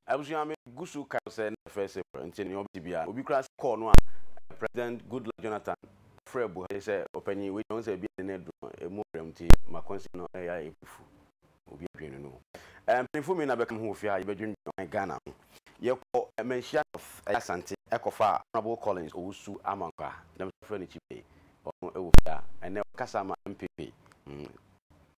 Abusua, me gu so kae no sɛ na yɛ first April nti nea ɔbɛte biara no obi koraa sɛ call no a President Goodluck Jonathan frɛɛ Buhari sɛ ɔpanyin wei deɛ ɔhu sɛ ebi a ne nan adu no emu ɔbrɛ mu nti ma kwansi no yɛ ayɛ fufu obi adwene no no o. Eh, mpanyinfo mmienu na bɛka me ho wɔ fie ha yɛbɛdwendwen ɔman Ghana ho. Yɛkɔ Manhyia North ɛyɛ Asante ɛkɔfaa Honourable Collins Owusu Amankwah, dɛm nso yɛfrɛ no Kyibei, ɔno ɛwɔ fie ha ɛnnɛ ɔkasa ma MPP. Mm.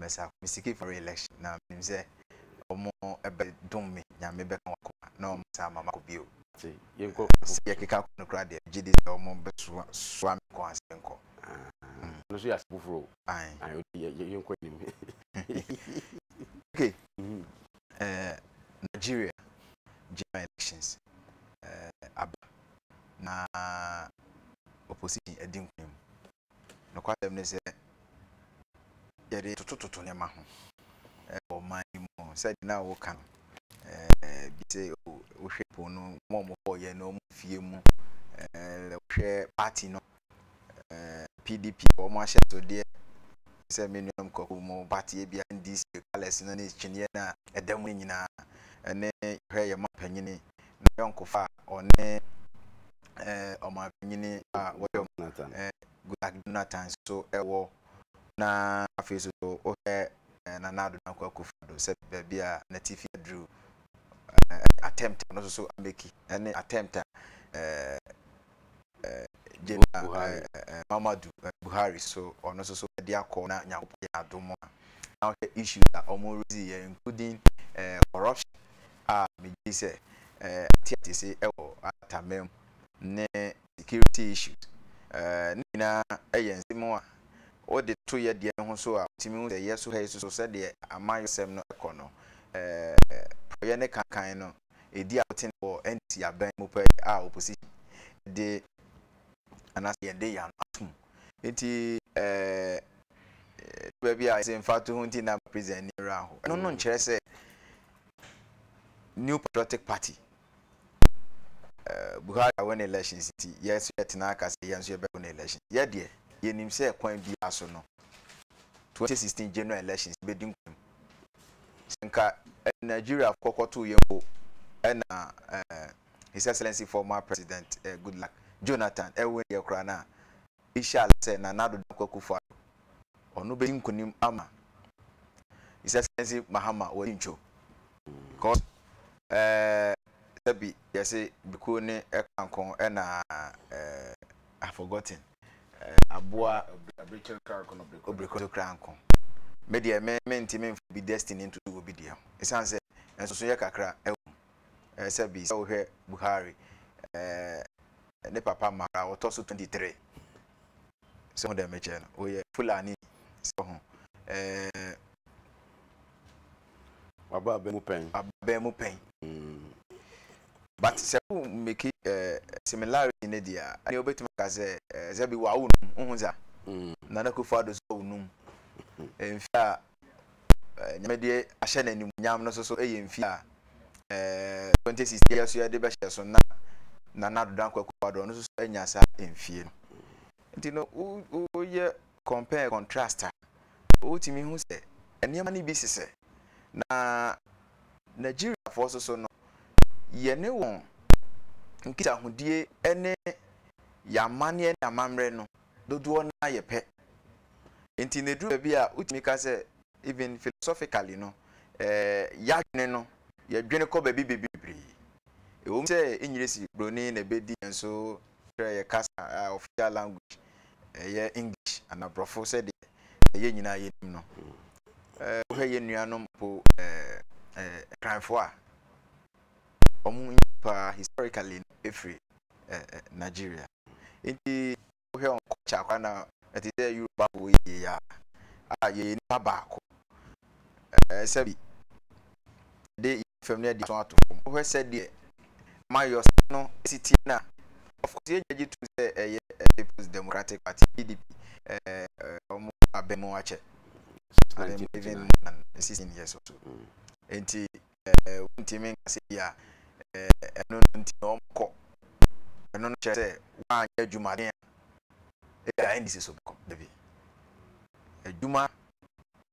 mɛsa me seeking for re-election na menim sɛ ɔmo bɛ dom me nyame bɛka wɔn akoma na ɔmo san ama makɔ bio sɛ yɛ keka kɔ no koraa deɛ gyedi sɛ ɔmo bɛ soa me kɔ ansa yɛn kɔ no so yɛ ase foforo yɛn kɔ anim okay eh, Nigeria general elections eh, aba na opposition adi nkunim Nokwasɛm ne sɛ, yɛde totototo nneɛma ho wɔ ɔman yi mu. Sɛnea na woka no, bi se oh, wohwɛ po no, wɔn a wɔkɔɔ yɛn no, wɔn fie mu, wohwɛ party no, PDP, wɔn ahyɛsodeɛ, sɛ me nuanom kɔkɔ mu party bi NDC colours no ne kyiniiɛ no a ɛda mu no nyinaa, ɛne hwɛ yɛn mapanyini n'ayɔnkofa a ɔne eh, ɔmanpanyin a wɔyɛ Jonathan. eh, Goodluck Jonathan nso wɔ, na afei nso so wohwɛ eh, Nana Ado Dankwa Akufo-Addo sɛ baabi a n'atifi aduru, eh, attempt a ɔno nso so ameki, ne attempt a eh, Buhari. Muhammadu Buhari so ɔno nso so ɛde akɔ na Nyankopɔn yɛ adom a na ɔhwɛ issues a ɔmo rezi yɛ including ɛɛ corruption a megye sɛ ɛɛ ate ate se ɛwɔ atamɛm ne security issues ɛɛ ne nyinaa ɛyɛ nsɛm a wode to yɛ deɛ no ho so a wotumi hu sɛ yɛ so ha yi so so sɛdeɛ amayɔsɛm no ɛkɔ no ɛɛ prɔyɛ ne kankan no edi a wotene wɔ NDC aban mu pɛɛ a opposition de anaasɛ yɛn de yɛ ano atom. Nti ɛɛ ɛdu baabi a yɛsɛ mfatoho nti na president ani wura aho. Ɛno no nkyerɛ sɛ New Patriotic Party Buhari awin elections nti yɛn nso yɛtena aka sɛ yɛn nso yɛbɛwin election. Yɛ deɛ yɛnim sɛ kwan biara so no 2016 general elections yɛbɛdi nkunim. Sɛ nka Nigeriafo kɔkɔtow yɛn mpo na His Excellency Former President Goodluck Jonathan ɛwin deɛ koraa no a, ishala sɛ Nana Addo Dankwa Akufo-Addo, ɔno bɛdi nkunim ama His Excellency Mahama wɔ Kyincho. Because sɛbi yɛse bekuo ne kankon na forgotten. aboa obirikyi kora nko. Me deɛ me mentumi mfa obi destiny ntoto obi deɛ ho ɛsiane sɛ nsosoyɛ kakra wom. Sɛ bi sɛ wohwɛ Buhari ne papa mmara wɔtɔ so 23 sɛ ho dɛ mekyɛ no wɔyɛ Fulani sɛ ho Waba abɛn mu pɛn. Abɛn mu pɛn. But sɛ wo make eh, similarity no deɛ a, ɛnneɛ wobɛtumi aka sɛ eh, sɛ bi wawo num, wohu dza? Nana Akufo Addo nso awo num. Mfe a eh, Nyame de ahyɛ no animuonyam no nso so yɛ mfe a eh, 2016 yi nso yɛde bɛhyɛ so na Nana Addo Dankwa Akufo Addo ɔno nso so anya saa mfie no. Nti no, wo, woyɛ compare contrast a, wotumi hu sɛ nneɛma no bi sesɛ. Na Nigeriafoɔ nso so no, yɛne wɔn nkitahodie ne yɛn amanneɛ ne amammerɛ no, dodoɔ no ara yɛ pɛ. Nti na ɛduru baabi a, wotumi ka sɛ even philosophically no, yɛn adwene no, yɛdwene kɔ baabi bebree. Ɛwom sɛ ɛnyɛ si buroni na ɛbɛdi yɛn so kyerɛ yɛ kasa a official language ɛyɛ English ana borɔfo sɛdeɛ yɛn nyinaa yɛnim no. Wohwɛ yɛn nuanom mpo Nkranfoɔ a wɔn nyini paa historically no ɛfiri Nigeria. Nti wohwɛ wɔn culture koraa na ɛte sɛ Yorubafoɔ yie a yɛyɛ nipa baako. ɛɛ sɛbi yɛde yɛn fam no adi so ato fam. Wohwɛ sɛdeɛ amannyɔsɛm no si tie no a, of course yɛgya gye tom sɛ ɛyɛ People's Democratic Party, PDP, ɛɛ wɔn aba mu akyɛ. Suspended. Even more than 16 years or so. Nti. eh, wontumi nka sɛ bi a eh, ɛno no nti na wɔkɔ. Ɛno no kyerɛ sɛ woanyɛ adwumaden a ebi a ndc so bɛkɔ. Dabi. Adwuma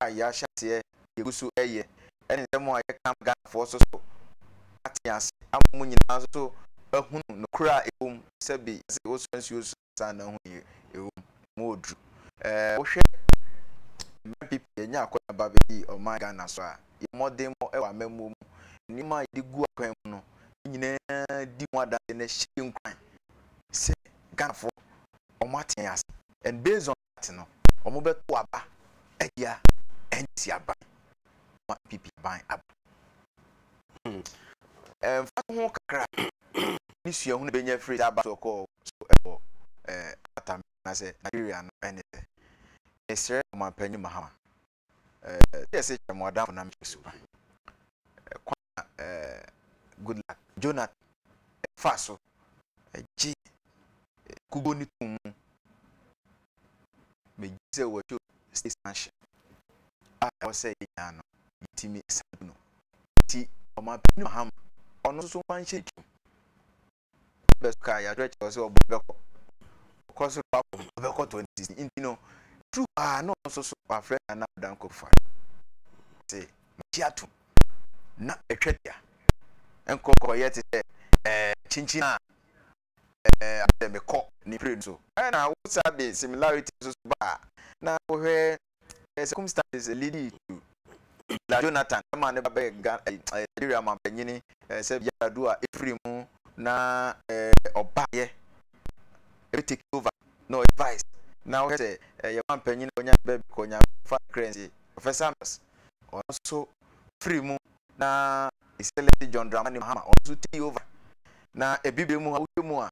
a yɛahyɛ aseɛ yɛgu so ɛyɛ ɛne nsɛm a yɛka ma Ghanafoɔ so so ate ase ama mu nyinaa so ahunu nokorɛ a ɛwɔ mu sɛ bi yɛse wosɔ nsuo so ansa na ho yɛ ɛwom ɛmu ɔduru ɛɛ wohwɛ mmerɛ pp yɛnya akɔnya ba bɛdi ɔman Ghana so a yɛ mmɔden mɔ ɛwɔ amammuo mu nneɛma a yɛde gu akwan mu no yɛ nyinaa di ho adanseɛ na ɛhyɛ yɛ nkuran sɛ Ghanafoɔ wɔn ate yɛn ase and based on ate no, wɔbɛtow aba atia NDC aban ama NPP aban aba. Hmm. Mfaso ho kakra ne suahu na benya firi saa battle kɔɔ so wɔ eh, Atam anaasɛ Nigeria no ne sɛ, mesrɛ Ɔmanpanyin Mahama, eh, sɛ yɛsɛ kyerɛ mo adamfo na mekyerɛ su kwan. Eh, kwan a eh, good luck jonathan ɛfa eh, so eh, gye eh, kugo ne tom mu megye sɛ wɔto stasanhyɛ a ah, ɛwɔ sɛ yɛnya no yɛtumi ɛsa du no nti ɔmampani mahama ɔno nso wanhyɛ twam bɛ so kaa yɛatwerɛ kyerɛ sɛ ɔbɔ bɛkɔ ɔkɔ so akɔ ɔbɛkɔ twenty si nti no turu paa na ɔnso so wafrɛ nana adanko fa te megye ato na ɛtwa dua nkɔkɔyɛ te sɛ ɛɛ kyinkyin a ɛɛ asɛ mekɔ ne pere no so ɛna wosa de similarity nso so baa na wohwɛ Ɛyɛ circumstances leading to Ila Jonathan ɛma ne ba bɛyɛ Ghana ɛɛ eh, Nigeria mampanyini ɛɛ eh, sɛ Yar'Adua a efiri mu na ɛɛ eh, ɔbaayɛ ebe take over na ɔyɛ vice na ɔhwɛ sɛ ɛyɛ mampanyini a ɔnya ne baabi kɔ nyame fa kra nsie Professor Mills ɔno nso firi mu na Excellency John Dramani Mahama ɔno nso take over na ebibire mu a wohwɛ mu a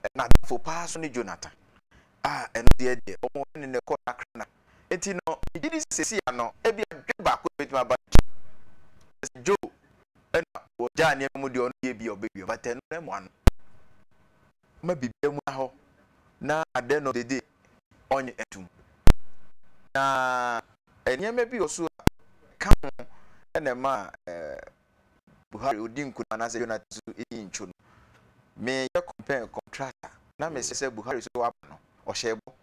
eh, n'adamfo paa so ne Jonathan Ah, ɛno deɛ deɛ, wɔn a ɛne no rekɔ no akra na. Enti no, megye di sɛ seesei ano, ebia dwe baako na ebetumi aba n'akyi. Kyerɛ sɛ, Joe na wɔgyaa nneɛma mu deɛ ɔno deɛ ebia ɔbɛwia, but ɛno no mmoa no. Ɔma biribiara mmua hɔ, na at the end of the day, ɔnnye ntom. Na nneɛma bi wɔ so a ɛka ho na ɛma Buhari odi nkunim anaasɛ Jonathan nso di ntwo no, meyɛ compare and contrast a, na mese sɛ Buhari nso waba no, ɔhyɛɛ bɔ,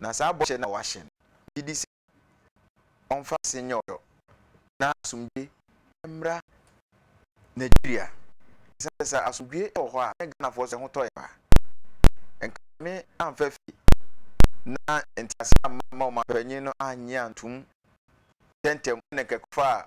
na saa bɔhyɛ no a wahyɛ no, megye di sɛ ɔmfa ase nyɛ ɔdɔ na asomdwoe mmra Nigeria. Esiane sɛ sɛ asomdwoe wɔ hɔ a, ne Ghanafoɔ nso ɛho tɔ yɛn paa. Nka Nyame amfa fie na ntease amma ma ɔmanpanyin no annye antom ntɛmntɛm na nka ɛkɔfaa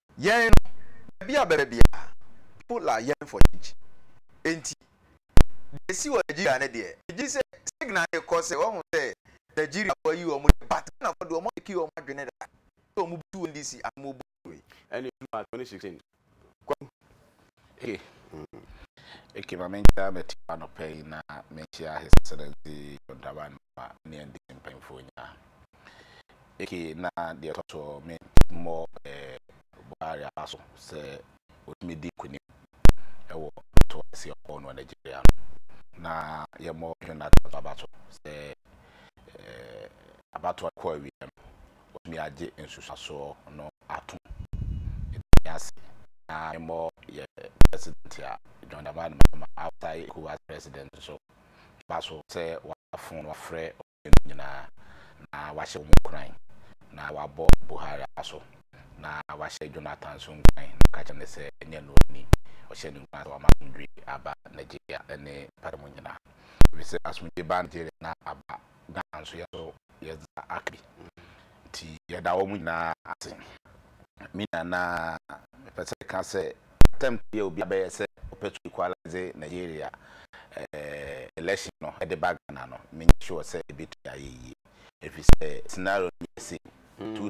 Yɛn no, baabi a ɔbɛba biara, people are yearning for change. Enti, deɛ ɛsi wɔ Nigeria no deɛ, megye sɛ signal no rekɔ sɛ wɔahu sɛ Nigeriafo ayi wɔn deɛ, but Ghanafo deɛ, wɔamake wɔn adwene da sɛ wɔbɛtu NDC anaa wɔbɛbu Adwoe. Ɛna ɛduru March twenty sixteen, Kwaku, Hey okay ma menkyerɛ mɛte hɔ anɔpa yi na menhyia His Excellency John Dramani ma ne NDC mpanyinfoɔ nyinaa. Okay na deɛ ɛtɔ so me mmɔ eh, Buhari afa so sɛ ɔtumi di nkunim ɛwɔ to ɛsi ɔkɔɔ no Nigeria no na yɛmmɔ John Dramani afa so sɛ eh, abatoɔ kɔ awie no wɔatumi agye nsusuasoɔ no atom. Meda nyinaa ase na memmɔ yɛ President a John Dramani Mahama a ɔtaa yɛ ECOWAS President nso mma so sɛ waba fon wafrɛ ɔman mu nyinaa na wahyɛ wɔn nkuran na wabɔ Buhari aso na wahyɛ Jonathan nso nkuran na ɔka kyerɛ no sɛ ɛnyɛ no ni ɔhyɛ ne nkuran sɛ wama asomdwe aba Nigeria ne pata mu nyinaa. Ɛfiri sɛ asomdwe baa Nigeria na aba Ghana nso yɛn nso yɛdze aka bi ntsi yɛda hom nyina ase. Me nua na mepɛ sɛ meka sɛ attempt yi a obi abɛyɛ sɛ ɔpɛ to equalize Nigeria election no de ba Ghana no mennyɛ sure sɛ ebetumi ayɛ yie efisɛ scenario no yɛ same two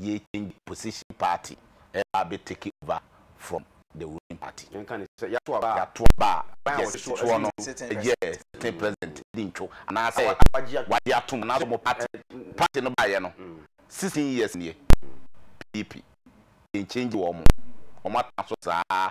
yɛ change position party ɛba abɛ take over from the ruling party. Yɛnka no sɛ yɛato aba a. Yɛato aba a ɔban a ɔte soɔ no yɛ sitting president di ntwo anaa sɛ wagye atom anaa sɛ wɔn party party no baeɛ no sixteen years nie PDP yɛn change wɔn wɔn atena so saa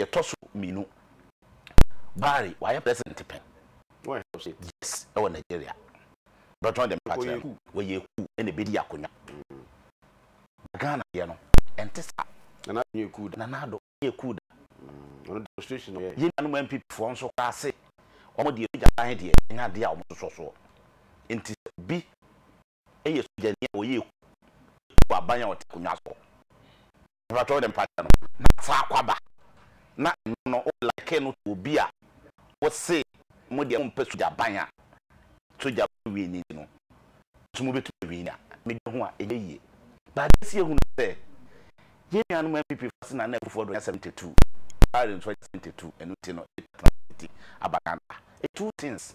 yɛ tɔ so mienu buhari wayɛ president pɛn yes ɛwɔ nigeria dɔ join the party no wɔyɛ kuu ɛna ɛbɛdi akonwa na ghana deɛ no ɛnte saa nana ado yɛ kuu da nana ado yɛ kuu da ɔno demonstration ɔyɛ yɛ nuanom npp foɔ nso koraa se wɔn deɛ ɛbɛgya ban deɛ ɛnyɛ adeɛ a wɔn sosɔ soɔ nti sɛ obi yɛ sogyani a ɔyɛ eku wɔ aban a ɔte akonnwa so hɔ. Mepakyɛ wo dɛ mpakyɛ no. Na fa akwaba. Na ɛno no wo liken no to obi a wose mo deɛ mompɛ sogya ban a sogya ban wini nti no nso mo bɛtumi awini a me dwene ho a ɛnyɛ yie. Na adeɛ si ɛhu no sɛ yɛn nuanom NPP foɔ ase Nana Akufo Addo anya 72, Buhari nso anya 72 ɛno nti no ɛtena ase ti aba Ghana ha. Two things.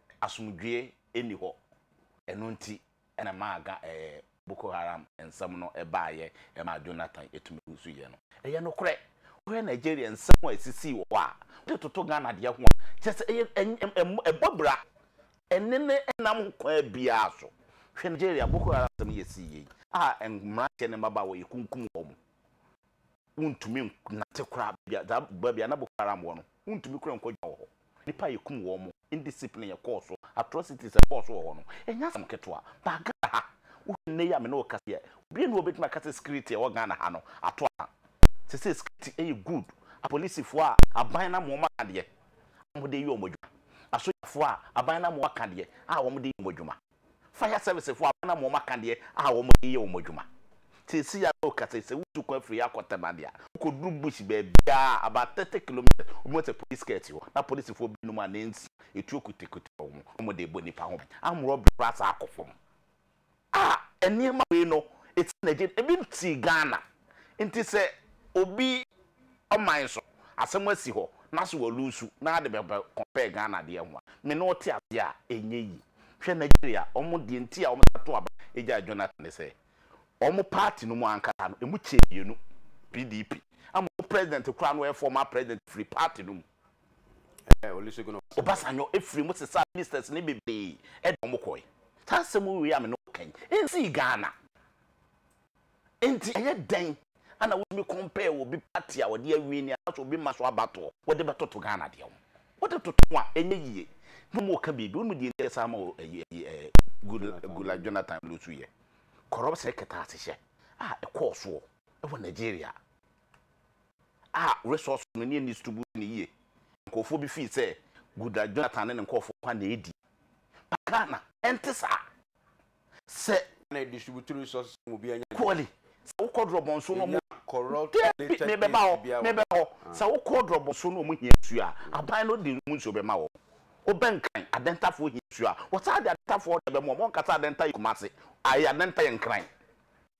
asomdwoeɛ nni hɔ. Ɛno nti na ɛmaa ga ɛɛ Boko Haram nsɛm no baeɛ ɛmaa Jonathan tumi wusuiɛ no. Ɛyɛ nokorɛ, wohwɛ Nigeria nsɛm a ɛsisii wɔ hɔ a, wode toto Ghana deɛ ho a, kyerɛ sɛ ɛyɛ ɛn ɛm ɛbɔ bra. Ɛnne no nnam ho kwan biara so. Hwɛ Nigeria Boko Haram nsɛm yi a ɛsiiɛ yi a mmranteɛ ne mmabaawa yɛkunkum wɔn. Wontumi nnante koraa baabi a, saa baabi a na Boko Haram wɔ no, wontumi koraa nkɔgyina wɔ hɔ. Nnipa a yɛkum wɔn. Indiscipline ɛkɔɔ so, atrocities ɛkɔɔ so wɔ hɔ no, ɛnyɛ asɛm ketewa. But Ghana ha, wohwɛ nnɛ yi a me ne wo kasa yi a, obiara nni hɔ a obetumi aka sɛ security a ɛwɔ Ghana ha no ato aka. Seesei security ɛyɛ good. Apolisifoɔ a aban no ama wɔaka deɛ a wɔde reyɛ wɔn adwuma. Asogyafoɔ a aban no ama wɔaka deɛ a wɔde reyɛ wɔn adwuma. Fire service foɔ abena mo ɔmaka deɛ a wɔn de yɛ wɔn adwuma. Seesei ya no ka sɛ sɛ wotu kwan firi akɔ Tema deɛ a, wokɔduru bush baabiara a about thirty kilometres wobɛhu sɛ police car si hɔ na polisifoɔ binom a ne nsia etuo kutakuta wɔn na wɔn de rebɔ nnipa ho ban. Armed robbery koraa saa kɔ fam. A nneɛma wei no ɛsi nagye ebi nte Ghana nti sɛ obi ɔman so asɛm asi hɔ na so wɔ lusu na ade bɛ bɛ compare Ghana deɛ ho a me ne wo te aseɛ a ɛnyɛ yie hwɛ Nigeria wɔn deɛ nti a wɔn san to aba gyae Jonathan ne sɛ wɔn party no mu ankasa no ɛmu kyɛɛ mmienu PDP ama wɔn president koraa no ɔyɛ former president firi party no mu Eh, Olusegun Obasanjo. Obasanjo ɛfiri mu sesaa ministers ne bebree ɛde wɔn kɔɛ saa asɛm wei a me ne wo kan ɛnsii Ghana. Enti ɛyɛ dɛn a na wotumi compare obi party a ɔde awin ni anaasɛ obi mma so abatoɔ wɔde bɛtoto Ghana deɛ ho? Wode toto ho a ɛnyɛ yie na wɔn reka biribi. Wonim deɛ nti a saa ma o ɛyi ɛyi ɛɛ Goodluck Goodluck Jonathan lose yɛ? Corruption kɛtɛasehyɛ a ɛkɔɔ soɔ ɛwɔ Nigeria a resource no ne ɛnni distribute no yie. Nkorɔfoɔ bi feel sɛ Goodluck Jonathan ne ne nkorɔfoɔ kwan na ɛdi. But Ghana ɛnte saa. Sɛ. Na distributory resources no mu biara nya bi. Kɔli, sɛ wokɔ Drɔbɔnso na ɔmo. Nya corrupt or related paste biara wɔ. Daabi, mebɛba hɔ, mebɛba hɔ. Sɛ wokɔ Drɔbɔnso na ɔmo hia nsuo a, aban no de ɔmo nsuo bɛma wɔn. Wobɛnkan, Adɛntafoɔ hia nsuo a, wɔtaa de Adɛntafoɔ na ɛbɛma wɔn. Wɔnka sɛ Adɛnta yɛ Kumasi, ae, Adɛnta yɛ Nkran.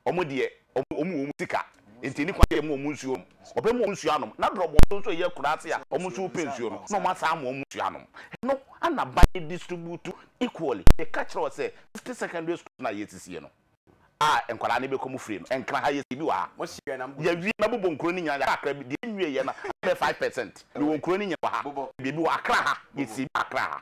Wɔn deɛ, wɔn wɔ wɔn sika, enti ɛnni kwan sɛ wɔma wɔn nsuo nom. Wɔbɛma wɔn nsuo anom, na berɛ a wɔn so nso reyɛ koraa sɛ a wɔn nso repɛ nsuo no, na wɔasan ama wɔn nsuo anom. Ɛno na ban no distribute equally. Meka kyerɛɛ wo sɛ City Secondary School no a yɛresisie no a nkwadaa no bɛkɔ mu firi no, nkran ha yɛsii bi wɔ ha. Yɛawie na bobɔ nkuro no nyinaa, yɛaka akra bi. Deɛ ɛnwieeɛ no abɛyɛ five percent. Yɛwɔ nkuro no nyinaa wɔ ha. Baabi wɔ Accra ha, yɛsii bi wɔ Accra ha.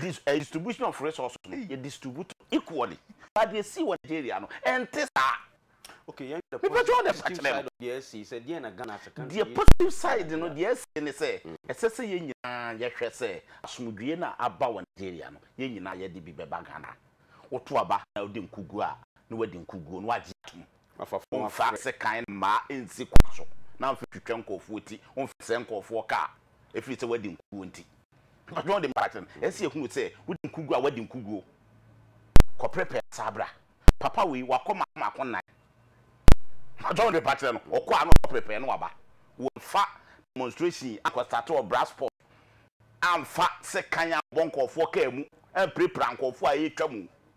Dis ɛɛ distribution of resources no yɛ distribute equally but deɛ ɛsii wɔ Nigeria no ɛnte saa. Okay yɛn hwɛ Mepɛ sɛ ɔde positive asakyerɛ no. side of deɛ ɛsii sɛ deɛn na Ghana as a country Deɛ yɛtumi positive ayɛ side no de a. deɛ ɛsii ne sɛ ɛsɛ sɛ yɛn nyinaa yɛhwɛ sɛ asomdwoeɛ no a aba wɔ Nigeria no yɛn nyinaa yɛde bi bɛba Ghana. Woto aba na wode nkuguo a na wadi nkuguo na wagye atom. Afa fam Womfa afrɛ. sekan mmaa nsi kwan so na mfa twitwa nkurɔfoɔ ti, womfɛsɛe nkurɔfoɔ kaa. ɛfiri sɛ woadi nkoguo nti. Mpakyɛ wɔde mpakyɛ no ɛsɛ yɛhunu sɛ wodi nkoguo a woadi nkoguo kɔprɛpɛ saa bra papa wei wakɔ maako nnan mpakyɛ wɔde mpakyɛ no ɔkɔ a na ɔprɛpɛ na waba wɔfa demonstration akɔ start wɔ brass pop amfa sɛ kan abɔ nkɔɔfoɔ kaa mu ampirepira nkɔɔfoɔ a ɛretwa mu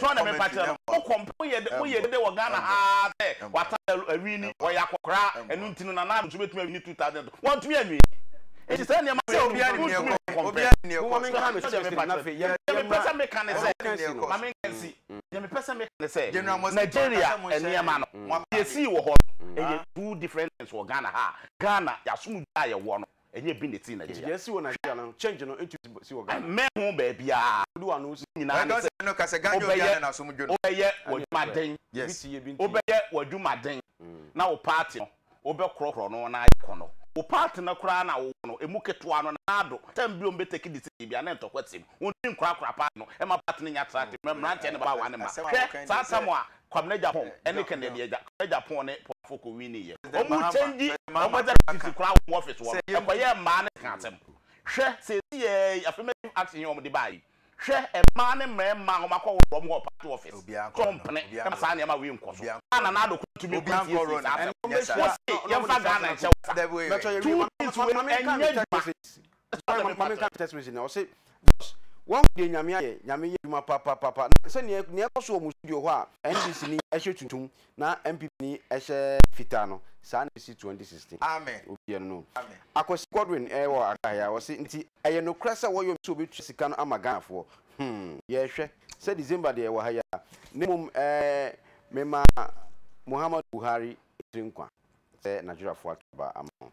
Tɔ na mɛpa kyerɛ no mo kɔm pɛ mo yɛ dede wɔ Ghana ha ara sɛ wata da awini ɔyɛ akɔkoraa ɛno nti no Nana Addo nso bɛtumi awini 2000 to wɔntumi anwi nti saa nneɛma wei nom no wontumi wɔ kɔm pɛ Momma me nka no seriously na afei yɛmma Deɛ mepɛ sɛ meka ne sɛ ɔnka nsi no ma me nka nsi Deɛ mepɛ sɛ meka ne sɛ Nigeria nneɛma no deɛ ɛsii wɔ hɔ no ɛyɛ two different things wɔ Ghana ha a Ghana yɛasom dwa a yɛwɔ no Ɛnyɛ bi na ɛti na yɛyɛ. Yɛasi wɔ Nigeria no, change no ntu si wɔ Ghana. Ɛmmɛn ho baabiara. Ne nyinaa ne sɛ wobɛyɛ wobɛyɛ w'adwuma den, wobɛyɛ w'adwuma den na wo party no wobɛkorɔkorɔ no na ayɛ kɔnnɔ. Wo party no koraa na wowɔ no, ɛmu ketewa no, Nana Addo, time bi a wɔbɛ take decision biara na ntɔkwa sem. Wɔntumi nkorakora party no, ɛmma party no nnya attractive, mmerɛ mmeranteɛ ne mmabaawa ne mma. Hwɛ saa tam a Kwabena Gyapong ne Kennedy agya, Kwame Gyapong ne Paul Afoko winnieɛ. Wɔn kyɛngyi wɔn executives koraa wɔ wɔn office hɔ no kɔyɛɛ mmaa no ka asɛm. Hwɛ seeseiaa yi affirmative action yi a wɔde baeɛ yi, hwɛ mmaa ne mmarima a wɔakɔworo wɔn wɔ party office sɛ wɔmpene ma saa nneɛma wei nkɔ so a Nana Addo Kufuor tumi kɔsiesie saa asɛm no. Wose yɛmfa Ghana nhyɛ wo nsa. Two things wei ɛnyɛ adwuma. Ɛtɔ da bi mpa menka testimony no, ɔse Jos woahu deɛ Nyame ayɛ, Nyame yɛ adwuma papapapa, na sɛ neɛ neɛ ɛkɔ so wɔ mo studio hɔ a NDC ni hyɛ tuntum na NPP ni hyɛ fitaa no saa na ɛsi 2016 Amen obiɛ no no Amen. Akwasi Godwin wɔ Accra ha ɔse nti ɛyɛ nokorɛ sɛ wɔyɔ sɛ wɔbɛtua sika no ama Ghanafoɔ hmm yɛrehwɛ sɛ December deɛ ɛwɔ ha yi ara na mmom ɛɛ mema Muhammadu Buhari tiri nkwa. sɛ Nigeriafo ato aba ama mo.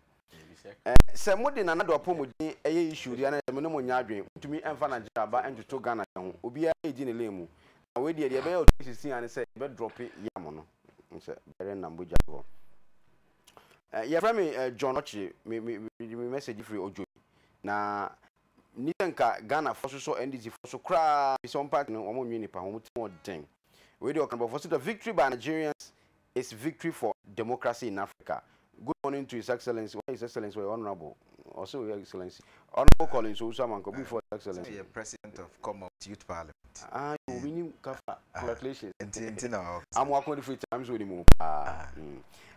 Sɛ mo de Nana Addo apɔmuden yɛ issue de anaa sɛ mo ne mo nyɛ adwene, mo ntumi mfa Nigeria aba ntoto Ghana deɛ ho. Obiara redi ne lane mu. Na wei deɛ deɛ ɛbɛyɛ ɔtwe sisi ara ne sɛ yɛbɛ drope yam no. Sɛ bɛrɛ nna mogya gu hɔ. Eh, yɛfrɛ me eh, John Ɔkyere, me me me me message firi Odwoyi. Na ni sɛ nka Ghana fɔ sosɔ NDC fɔ so koraa, fi sɛ wɔn party no wɔn nwe nipa ho, wɔn ti wɔn den. Wei deɛ ɔkanbɔfoɔ sɛ the victory by Nigerians It's victory for democracy in Africa. Good morning to His Excellency. Why His Excellency? Why Honorable? Also, Your Excellency. Honorable Collins Owusu Amanko, before His Excellency. Sɛ yɛ President of Commonwealth Youth Parliament. Ah, yɛ obi nim kafa. Congratulations. Nti nti na ɔkɔ. Amu akɔn de free times wɔ ne mu paa.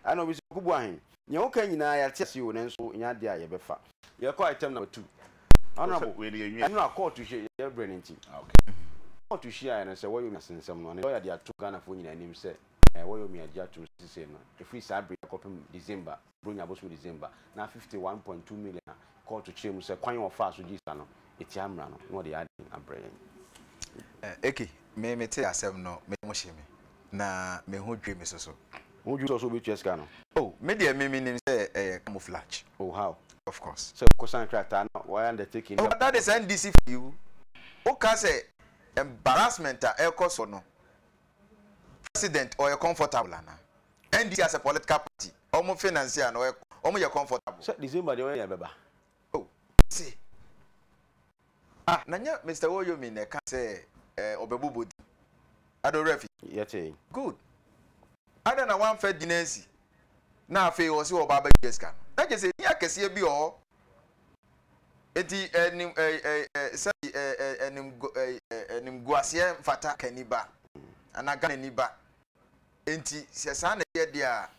Ɛna obi sɛ kubu ahen. Nea woka nyinaa yɛte ase o nanso nyɛ adeɛ a yɛbɛfa. Yɛkɔ item number two. Honorable, ɛno a kɔɔto hyɛ yɛ brɛ no nti. Kɔɔto hyiaeɛ no sɛ wɔyɛ nsɛm no, ne lɔya de ato Ghanafoɔ nyinaa anim sɛ. na wɔyɛ omi agye atom sesei no, ɛfiri saa bere yi akɔpem December, Buronya bosome December, na fifty one point two million a kɔɔto kyerɛɛ mu sɛ kwan a wɔfaa so gyee saa no, ɛtia mmara no, na wɔde yɛ aden abrɛ yɛn. Eke, Me metee asɛm no, me yam hyee me, na me ho dwiri me so so. Wo ho dwiri wo so sɛ wobɛtua sika no? Oh, me deɛ me menim sɛ ɛyɛ camouflage. Oh, how? Of course. Sɛ wokɔsan krataa na wɔayɛ undertaking bi a. Oh, that is NDC for you. Woka sɛ embarrassment a ɛrekɔ so no, President ɔyɛ comfortable ana? NDC as a political party ɔmo finance a na ɔyɛ ɔmo yɛ comfortable. Sɛ December deɛ ɔyɛ bɛba. Oh ɔse ah na nyɛ Mister Woyomi na ɛka sɛ eh ɔbɛbobɔ din ade ɔwerɛ afi. Yɛtee. Good adɛn na wamfa din ansi na afei ɔse ɔɔba abɛgye sika no na kyerɛ sɛ din akɛseɛ bi wɔ hɔ. Enti nim sɛdeɛ animguaseɛ mfata Kani ba anaa Ghanani ba. Enti sɛ saa na ɛyɛ deɛ a,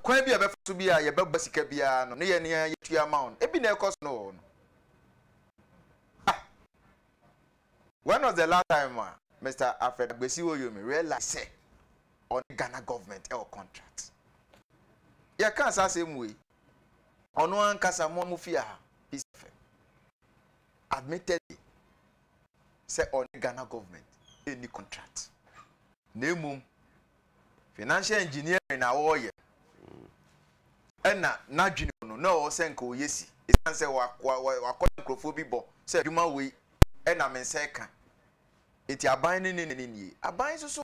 kwan bi a yɛbɛfa so biara a yɛbɛbɔ sika biara no, ne yɛn ara yɛtua ama wɔn. Ebi na ɛkɔ so no wɔ hɔ no. Ah! When was the last time a Mr. Alfred Agbesi Oyomi realize sɛ ɔne Ghana government ɛwɔ contract? Yɛka saa asɛm wei Ɔno ankasa mo a mo fi ha is fɛ admittedly sɛ ɔne Ghana government ɛnni contract na mmom financial engineering na ɔreyɛ ɛna n'adwene mu no na ɔwɔ sɛ nka ɔyɛ si ɛsiane sɛ wakɔyɛ nkurɔfoɔ bi bɔ sɛ adwuma wei ɛna me nsa ɛka nti aban ne ne ne nie aban nso so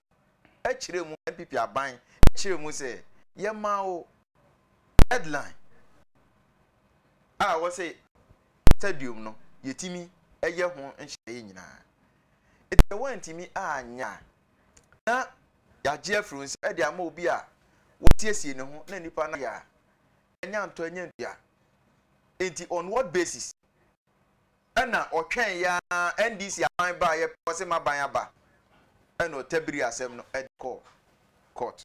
ɛkyerɛ mu NPP aban ɛkyerɛ mu sɛ yɛma wo Headline a ɔwɔ sɛ stadium no yɛtumi yɛ ho nhyehyɛeɛ nyinaa. Nti sɛ woantumi anyɛ a, na yɛagye afiri wo nsam de ama obi a wasiesie ne ho na nnipa no ayɛ a anya ntɔ anya ntua. Nti on what basis ɛna ɔtwɛn yɛ a NDC aban baeɛ pɛ ɔse m'aban aba ɛna ɔtabiri asɛm no de kɔɔ court.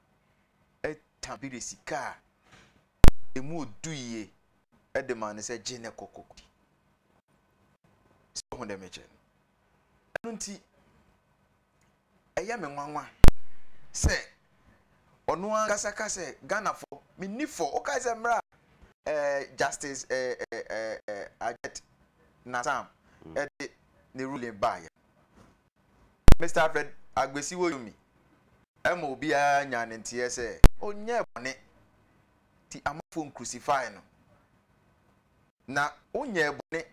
ta bi de sika a emu yɛ du yie de ma no sɛ, 'Gye na kɔ kɔdi. So wohu deɛ mekyerɛ no? Ɛno nti, ɛyɛ me nwanwa sɛ ɔno ankasa ka sɛ Ghanafoɔ menni fɔ. Wokae sɛ mmerɛ a eh, Justice eh, eh, eh, eh, Ajit Nasam mm. de ne ruling baeɛ Mister Alfred Agbesiwoyomi ma obiara nyaa ne nteɛ sɛ ɔnyɛɛ bɔne nti amanfoɔ nkrusifae no. Na onyɛɛ bɔne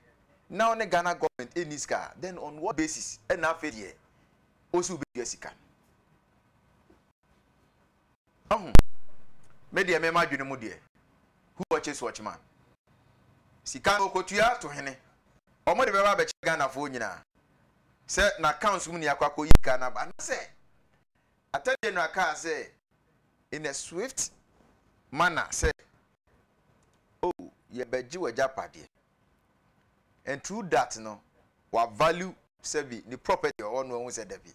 na ɔne Ghana government nni sika a, then on what basis na afei deɛ ɔsi wobɛtua sika no? Wahu? Me deɛ me m'adwene mu deɛ, who watches watch man. Sika no ɔkɔtua to hene, wɔn de bɛba abɛkyɛ Ghanafoɔ nyinaa. sɛ n'accounts mu nea akɔ akɔ yi car no aba anasɛ Attorney General kaa sɛ in a swift manner sɛ oh yɛbɛgye w'agyapadeɛ and through that no wa value sɛbi ne property a ɔwɔ no ahu sɛ dabi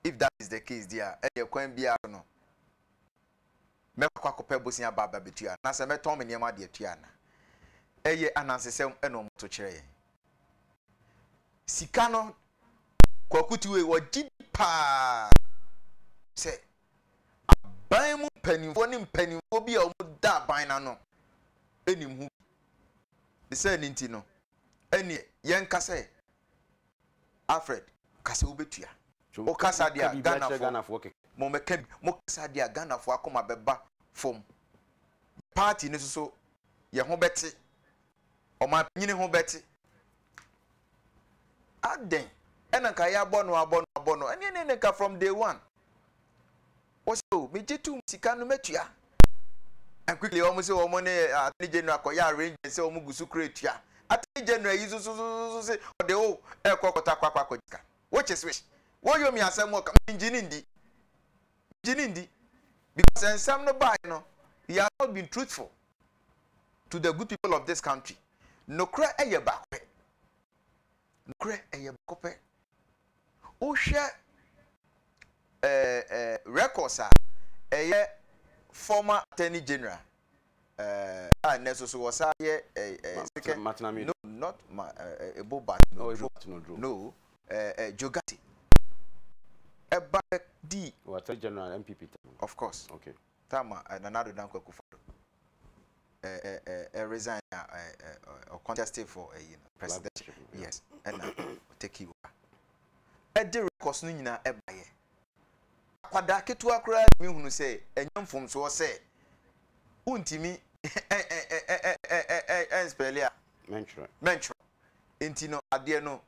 if that is the case deɛ a ɛneɛ kwan biara so no mɛkɔ akɔpɛ bosea aba aba betua anaasɛ mɛtɔn me nneɛma de atua ana? Ɛyɛ anansesɛm na wɔto kyerɛ yɛn. Sika no, Kwaku Tuwe, ɔgye di paa sɛ aban mu mpanimfoɔ ne mpanimfoɔ bi a wɔda aban no ano nim ho bi. Ne sɛ ne nti no, ɛnneɛ yɛnka sɛ Alfred ka sɛ wobɛtua. Wo kasa deɛ a Ghanafoɔ mo mmɛka bi. Mo kasa deɛ a Ghanafoɔ akoma bɛba fam. Yɛ party no nso yɛ ho bɛte. Ɔmanpanyini ho bɛte. Adɛn na nka yɛabɔ no abɔ no abɔ no. Ɛneɛ ne nka from day one. Wɔ se o megye tom sika no mɛtua and quickly wɔn se wɔn ne attorney general kɔyɛ arrangement sɛ wɔn gu so kura tua attorney general yi sosososo se ɔde o ɛkɔ kɔtɔ akɔ akɔ akɔgye sika which is which wɔyɔ mi asɛm wɔ ka mengye ne ndi mengye ne ndi because nsɛm no baeɛ no he has not been truthful to the good people of this country nokorɛ ɛyɛ baako pɛ Nokorɛ ɛyɛ baako pɛ. Wo hwɛ ɛɛ ɛɛ records a ɛyɛ former attorney general ɛɛ a nnɛ nso so wɔ saa yɛ ɛɛ ɛɛ second Matenamee no not ma ɛɛ ebo bat no duro bat no duro no ɛɛ ɛɛ Jogati ɛba bɛ dii wɔ attorney general NPP tam of course okay. Tam a Nana Addo Dankwa Akufo-Addo resign a ɔ contest for ɛyi no presidential yes ɛna ɔ take over ɛde records no nyinaa ɛbaeɛ. Akwadaa ketewa koraa tumi hunu sɛ ɛnyɛ mfomsoɔ sɛ wontumi ɛnspɛle a mɛntwerɛ. Nti no adeɛ no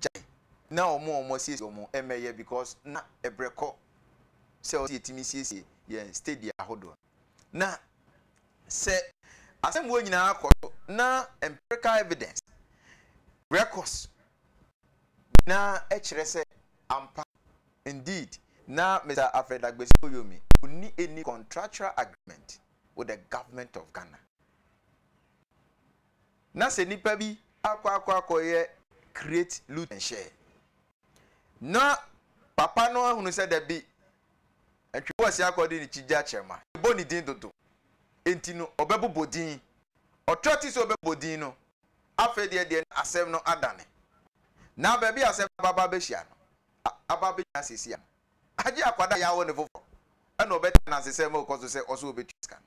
gyae na wɔn a wɔn asiesie wɔn mmɛyɛ because na ɛbrɛ kɔ sɛ wɔn yɛtumi siesie yɛn stadia ahodoɔ no na sɛ asɛmmuo nyinaa kɔ so na empirical evidence records nyinaa kyerɛ sɛ ampa indeed na Mr Alfred Agbesi Oyomi ɔnni any contractual agreement with the government of Ghana Na sɛ nipa bi akɔ akɔ akɔ yɛ creat lut nhyɛ na papa no ahunu sɛ dabi ntwe bɔ ɔse akɔ de ne kyi gya kyerɛ ma ɛbɔ ne din dodo nti no ɔbɛbobɔ din ɔtra ti sɛ ɔbɛbɔ din no afei deɛ deɛ na asɛm no adane na baabi asɛm no ababa abɛhyia no aba bɛgyina siesia no agye akwadaa yɛ awo ne foforɔ ɛna ɔbɛte anasesɛm ɛkɔ so sɛ ɔso ɔbɛtua sika no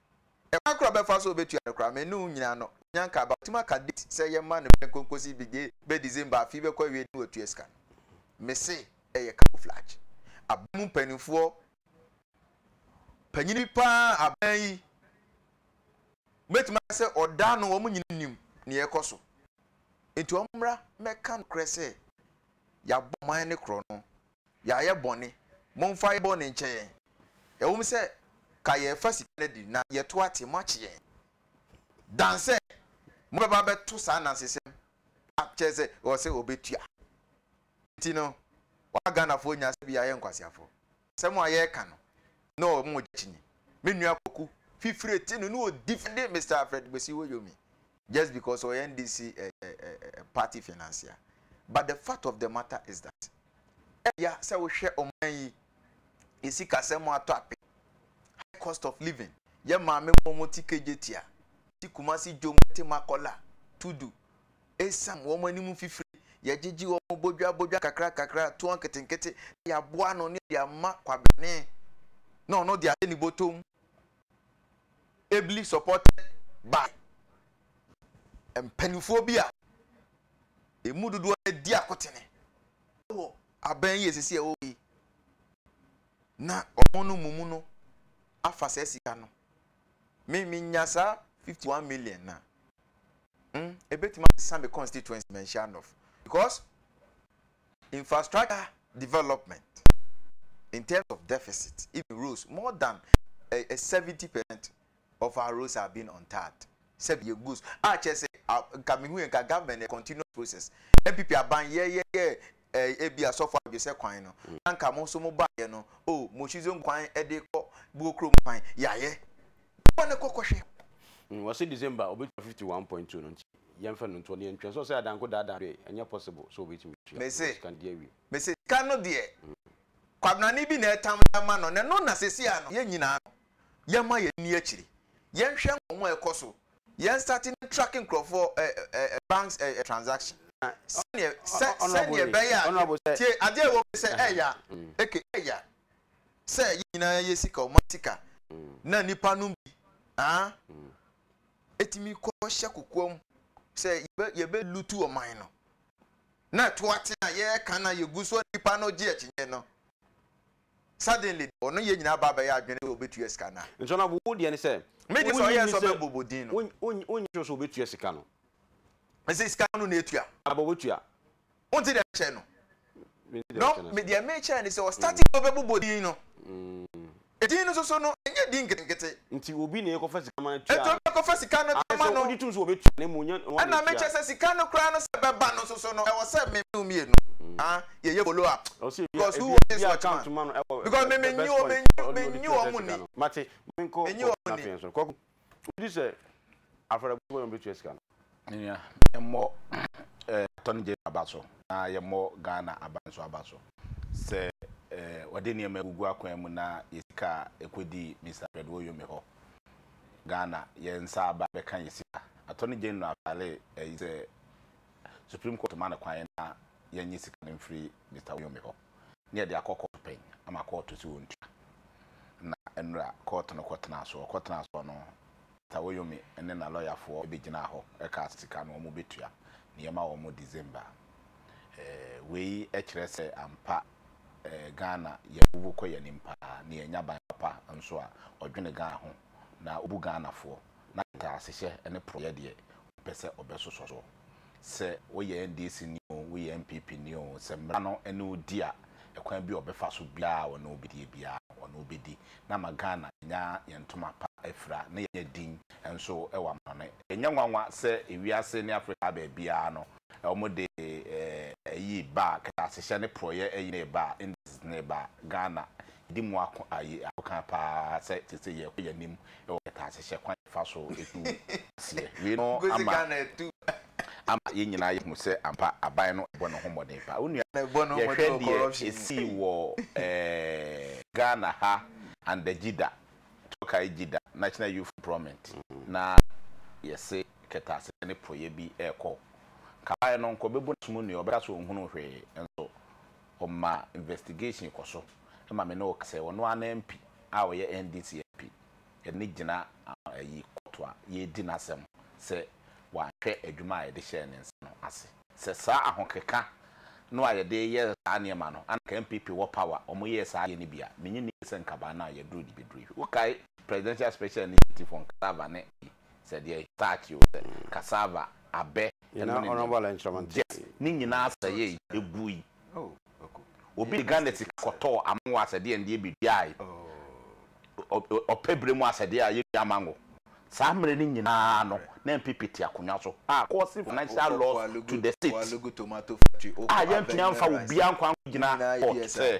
Ɛkwan koro a ɔbɛfa so a obetua no koraa, me ne wo nyinaa no, onya nkaa ba. Watumi aka date sɛ yɛmma no bere nkonkosi bi de bɛ December afe yi bɛkɔ awiei no na watua sika no. Mise ɛyɛ camouflage. Aban mu mpanimfoɔ, panyin bi paa aban yi, mɛtumi aka sɛ ɔda no wɔn nyina nim nea ɛkɔ so. Nti wɔn mmra mɛka nokorɛ sɛ yɛabɔ man no korɔ no Yɛayɛ bɔne. Momfa yɛn bɔne nkyɛ yɛn. Ɛwom sɛ ka yɛrefa sika no adi na yɛto ate, moakye yɛn. Dan sɛ mobɛba abɛto saa anansesɛm a kyerɛ sɛ ɔsɛ ɔbɛtua nti no, wama Ghanafoɔ nya sɛ bi yɛayɛ nkwaseafoɔ. Asɛm a yɛreka no, ne ɔmo gyakyini, me nua Kwaku Fifire te no ne ɔdi fɛde Mister Alfred Kwesi Woyomi just because ɔyɛ NDC party financier but the fact of the matter is that ɛya sɛ wohwɛ ɔman yi yɛ sikasɛm atɔ ape high cost of living yɛ maame mu wɔn ti kegye tia ti kumasi dwom ɛte makɔla tudu esam wɔn anim fifiri yɛgyegye wɔn bodwa bodwa kakra kakra toɔ nketenkete yɛaboa no ne yɛde ama kwabene na ɔno de ahyɛ ne bɔtɔm ably supported by mpanimfoɔ bi a ɛmu dodoɔ no adi akotene wɔ aban yi a ɛsisi a ɛwɔ yi na wɔn no mumu no afa saa sika no me menya saa 51 million na mm, ɛbɛtumi asesa me constituency manhyia nɔf because Infrastructure development in terms of deficit even roads more than a seventy percent of our roads are being untarred sɛbi yɛ goals a kyerɛ sɛ nka mehu yɛ nka government yɛ continuous process npp aban yɛ yɛ yɛ ebi asɔfo adwesɛ kwan no mm. na nka mo nso mo ba yɛ no o oh, mo shizo kwan ɛde kɔ buo kurom kwan yayɛ wɔn ne kɔkɔhwɛ. Mm, wɔsi december obi twa fifty one point two no nti. Yɛnfa no nto hɔ na yɛntwɛn. So ɔsɛ adanko daadaa adwene? Ɛnyɛ possible sɛ obetumi tua Me se, sika no de awie. me se sika no deɛ Kwabenani bi na ɛtam de ama no na ɛno na sesie a no yɛn nyinaa no yɛma yɛn ani akyiri. Yɛnhwɛ nkɔmmɔ a ɛkɔ so. Yɛn starte ne track nkurɔfoɔ ɛ ɛ ɛ banks ɛ ɛ transaction. Sɛdeɛ sɛ sɛdeɛ ɛbɛyɛ a yɛ tie adeɛ a ɛwɔ mu ne sɛ ɛya eke ɛya sɛ yɛn nyinaa yɛ sika ɔma sika na nnipa nom bi aa tumi kɔhyɛ kokoam sɛ yɛbɛlutu ɔman no, na ɛto aten a yɛreka na yɛgu so a nnipa no gye akyinnye no, suddenly ɔno yɛ nyinaa ba bɛyɛ adwene sɛ ɔbɛtua sika no a. Nso na wo deɛ ne sɛ. Me deɛ sɛ ɔyɛɛ sɛ ɔbɛbɔ bɔ din no. Wonyi sure sɛ ɔbɛtua sika no. Ɛsɛ sika no na ɛtua. Aba ɔbɛtua. Wonte deɛ mekyerɛ no? No, me deɛ mekyerɛ ne sɛ wɔ starting no wobɛbobɔ din no. Edin no soso no, ɛnyɛ din nketenkete. Nti obi na ɛkɔfa sika ma no tua. Nti obi ɛkɔfa sika no tua ma no. Ayɛ sɛ wogye tom sɛ wɔbɛtua na mmom nyɛ wɔn na ɛtua. Ɛna mekyerɛ sɛ sika no koraa no sɛ ɛbɛba no soso no, ɛwɔ sɛ me ne wo mmienu ah, yɛyɛ follow up. Because who was this watchman? Because me menyi wɔn, menyi wɔn ni. Mate, menkɔ, menkɔ, na afei nso, kɔkɔ. Wogye di sɛ afɔrebɔ bɛn na wobetua sika no? Me nua, yɛmmɔ attorney general aba so na yɛmmɔ Ghana aban nso aba so sɛ wɔde nneɛma agugu akwan mu na yɛn sika a ɛkɔdii Mister Fred Woyome hɔ Ghana, yɛn nsa aba bɛka yɛn sika. Attorney General fale ayi sɛ Supreme Court ma no kwan na yɛnye sika no mfiri Mister Woyome hɔ. ne yɛde akɔ kɔɔto panyin ama kɔɔto sɛ wɔntua. Na nnora kɔɔto no kɔtenaa so. Wɔkɔtenaa so no, Tawoyomi ne n'alɔyafoɔ bɛgyinaa hɔ kaa sɛ sika no wɔbɛtua, na yɛma wɔn December. Wei kyerɛ sɛ ampa Ghana yɛabubu kɔ yɛn anim pa ara, na yɛnnya ban papa nso a ɔdwene Ghana ho na ɔbu Ghanafoɔ, na nteasehyɛ ne porɔeɛ deɛ ɔmpɛ sɛ ɔbɛsosɔ soɔ. sɛ woyɛ NDC ni oo, woyɛ NPP ni oo, sɛ mmara no ne wo di a, ɛkwan bi a ɔbɛfa so biara a ɔne wo bɛdie biara no, ɔne wo bɛdi. Na ama Ghana anya yɛn ntoma pa afira na yɛanya din nso wɔ amanɔne. Ɛnyɛ nwanwa sɛ ewiase ne Afrika baabiara no, wɔde ayi ba a, kɛtɛasehyɛ ne porɔeɛ ayi no reba a, indices no reba a, Ghana Edi mu ako aye akokan paa sɛ seesei yɛrekɔ yɛn anim wɔ kɛtɛasehyɛ kwan a yɛfa so tu aseɛ wei no ama ama yɛn nyinaa yɛahu sɛ ampa aban no bɔ ne ho mmɔden paa. Wo nua, yɛhwɛ deɛ ɛsii wɔ eh, Ghana ha under Jida, Turkey Jida, National Youth Employment, na yɛse kɛtɛasehyɛ ne porɔeɛ bi ɛrekɔ. Kabaeɛ no, nka ɔbɛbu n'asom nnue, ɔbɛka sɛ ɔnhunuu hwee nso. ɔma investigation kɔ so ma me ne wo kasa yi, ɔno ara ne MP a ɔyɛ NDC MP ne gyina ayi court a yɛredi n'asɛm sɛ wanhwɛ adwuma a yɛde hyɛɛ ne nsa no ase. Sɛ saa ahokeka no a yɛde yɛ saa nneɛma no anka NPP wɔ power a wɔyɛɛ saa adeɛ no bi a, menye nni sɛ nka baa no a yɛduru de bɛduru yi. Wokae Presidential Special Initiative for Nkra Ava ne ayi? sɛ deɛ. Starch o, sɛ cassava, abɛ, ɛno ne nneɛma. Gyɛt, ne nyinaa sɛeɛe, ɛguui. Obi de Ghana sika kɔtɔɔ amango asɛdeɛ ndeɛ bɛduaae, ɔpɛ berɛ mu asɛdeɛ a yɛdua mango. Saa mmerɛ no nyinaa no, na NPP te akonnwa so a causing financial loss to the state a yɛantumi amfa obiara nkwa ankɔgyina court sɛ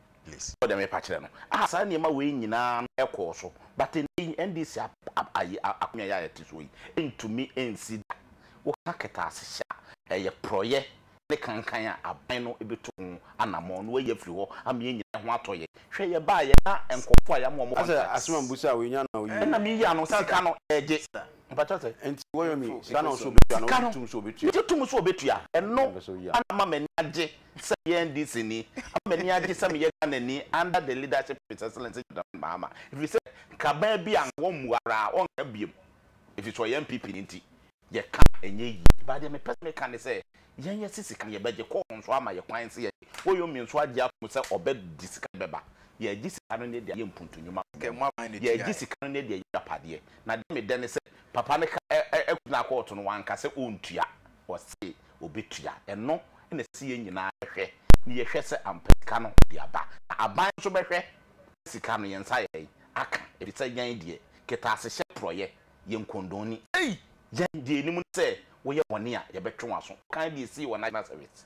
please. Ɔde mepa kyerɛ no. Ah saa nneɛma wei nyinaa no ɛkɔɔ so but ɛnnɛ yi NDC ap ayi akonnwa yi a yɛte soɔ yi ɛntumi ɛnsi da. Woka kɛtɛase hyɛ a ɛyɛ porɔeɛ ne kankan a aban no bɛtu ho anammɔn na wayi afiri hɔ ama yɛn nyinaa ho atɔ yɛn. Hwɛ yɛbaeɛ na nkorɔfoɔ a yɛama wɔn contracts. Asɛ asem a mbusa a wei nya na ɔyie. Ɛna meyi ano sika no ɛgye. Mpakyɛw sɛ. Nti wɔyɔ me sika no nso ɔbɛtua anaa ɔgye tom sɛ ɔbɛtua. Megye tom sɛ ɔbɛtua. Ɛno na ama m'ani agye sɛ meyɛ NDCni ama m'ani agye sɛ meyɛ Ghanani under the leadership of His Excellency John Mahama ɛfiri sɛ nkraman bi a wɔmmu ara a wɔnka biom ɛfiri sɛ ɔyɛ NPPni nti yɛka a ɛnyɛ yie but deɛ mepɛ sɛ meka ne sɛ yɛn yɛse sika no yɛbɛgye kɔɔ nso ama yɛ kwan sɛ yɛgye Woyomie nso agye atom sɛ ɔbɛgye sika no bɛba yɛagye sika no ne deɛ yɛ mpuntu nnwuma mmɔɔ yɛagye sika no ne deɛ yɛ agyapadeɛ na deɛ medɛ ne sɛ papa no ka ɛkɔgyinaa kɔɔto no wanka sɛ ɔntua ɔse wɔbɛtua. Ɛno na ɛsɛ sɛ yɛn nyinaa hwɛ na yɛhwɛ sɛ ampa sika no de aba. Na aban nso bɛhwɛ sɛ sika no yɛn nsa ayɛ dɛn aka, ɛfiri sɛ yɛn deɛ, kɛtɛasehyɛ porɔeɛ yɛ nkɔndɔn ni. Ei! Yɛn deɛ yɛnim ne sɛ woyɛ bɔne a, yɛbɛtwe w'aso. Wokan deɛ ɛsii wɔ National Service.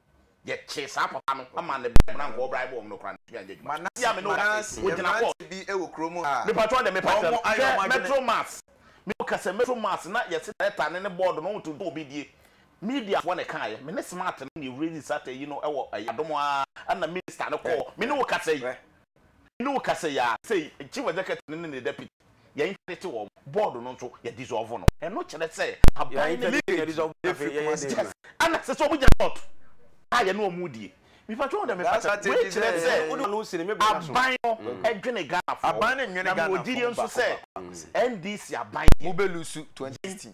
Yɛkyee saa papa no ma ne ba mmeran kɔɔ bra bɔɔ ɔmo no koraa no tumi anyɛ adwuma. Manase a me ne wo kasa yi, ogyina hɔ. Mmeranteɛ bi wɔ kuro mu a, Me patrɔ wo de me pakyɛ no, hwɛ Metro Mass, me wo kasa Metro Mass na yɛse director no ne board no ɔnto dwom obedie, media foɔ na ɛkaeɛ, me ne smart no na yɛwura yi Saturday yi no wɔ ɛyɛ adom aa na minister no kɔɔ, me ne wo kasa yi. Me ne wo kasa yi ara, sei, Chief Executive no ne ne Deputy, yɛ interdite wɔn, Board no nso, yɛ dissolve no. Ɛno kyerɛ sɛ, aban no leakage firi Kumasi Yes, ɛna ɛsɛ sɛ wɔnya slot a yɛne wɔn redie. Mepatwa wo dɛ, mepa kyɛw, wei kyerɛ sɛ, aban no dwene Ghanafoɔ ho, na mewɔ gyidie nso sɛ, NDC aban deɛ, yɛn.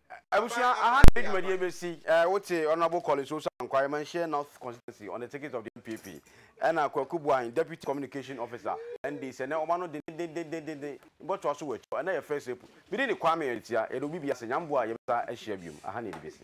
Abusua, aha na yɛn dwumadie bɛsi. Wote Honourable Collins Osu Ankwah, Remmahyeɛ North Constituency, on the ticket of the NPP, ɛna Kwaku Boahen, Deputy Communication Officer, NDC, ɛnnɛ wɔma no dendendendendendendenn. Yɛbɛtoa so wɔ akyire hɔ. Ɛnnɛ yɛ First April. Me din de Kwame Aretia. Yɛda obi biara ase. Nyame boa a, yɛbɛsan ahyia biom. Aha na yɛde bɛsi.